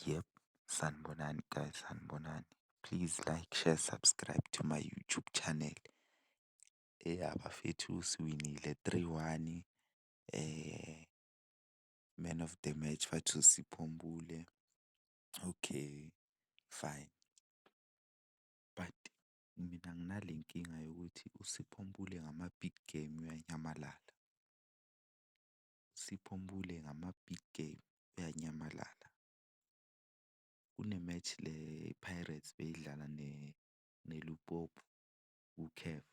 Yep, sanibonani guys, sanibonani. Please like, share, subscribe to my YouTube channel. Eya bafethu siwinile three one man of the match bathu Sipho Mbule. Okay fine but mina nginale nkinga yokuthi uSipho Mbule ngama-big game uyanyamalala. Sipho Mpule ngama-big game uyanyamalala. Kune-match le iPirates beyidlala neLupopo kuCAF,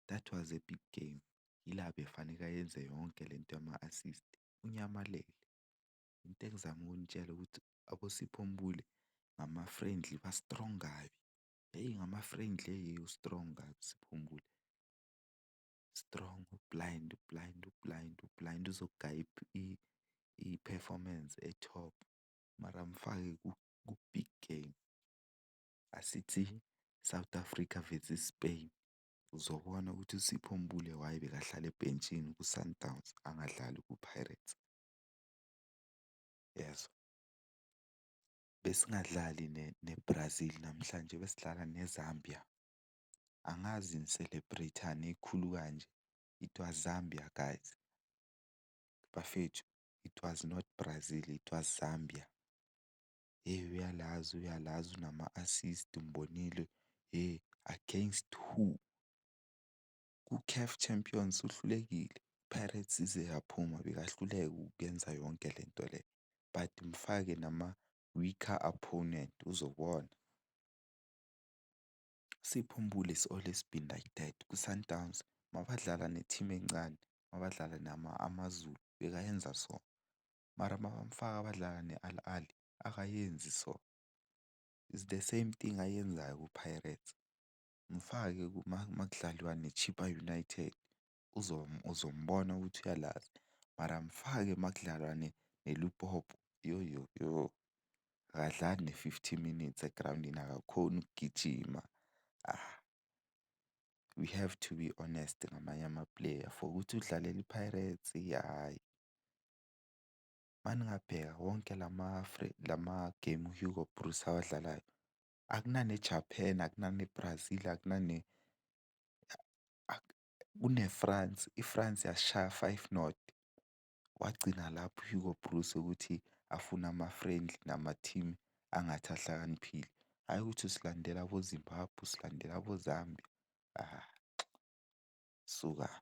that was a big game. Yila bekufaneke ayenze yonke le nto yama-assist, unyamalele. Into engizama ukunitshela ukuthi aboSipho Mpule ngama-friendly ba-strong kabi. Hheyi ngama-friendly hheyi u-strong kabi uSipho Mpule. strong u-blind, u-blind, u-blind, u-blind uzogaya i-performance e-top mara mfake ku-big game. Asithi South Africa versus Spain, uzobona ukuthi uSipho Mbule why bekahlala ebhentshini kwiSundowns angadlali kwiPirates. Uyezwa? Besingadlali neBrazil namhlanje besidlala neZambia. angazi ni celebrate-ani ekhulu kanje. It was Zambia guys, bafethu it was not Brazil it was Zambia. Hheyi uyalazi uyalazi unama-assist umbonile hheyi against who? KuCAF Champions uhlulekile, iPirates ize yaphuma bekahluleka ukuyenza yonke le nto le but mfake nama-weaker opponent uzobona. Sipho Mbuli is always been like that kwiSundowns mabadlala ne-team encane, mabadlala nama-AmaZulu bekayenza so. Mara mabamfaka badlala ne-Al Ahly akayenzi so. It's the same thing ayenzayo kuPirates, mfake makudlalwa neChippa United uzombona ukuthi uyalazi. Mara mfake makudlalwa neLupopo yoyoyo akadlali ne-fifty minutes egrawundini akakhoni ukugijima. We have to be honest ngamanye amapuleya for ukuthi udlalele iPirates hhayi. Uma ningabheka wonke lama-game uHugo Broos awadlalayo akunane-Japan, akunane-Brazil, akunane . kuneFrance, iFrance yasishaya five nought. Wagcina lapho uHugo Broos ukuthi afune ama-friendly nama-team angathi ahlakaniphile. Hhayi ukuthi usilandela aboZimbabwe, usilandela aboZambia, suka-ke.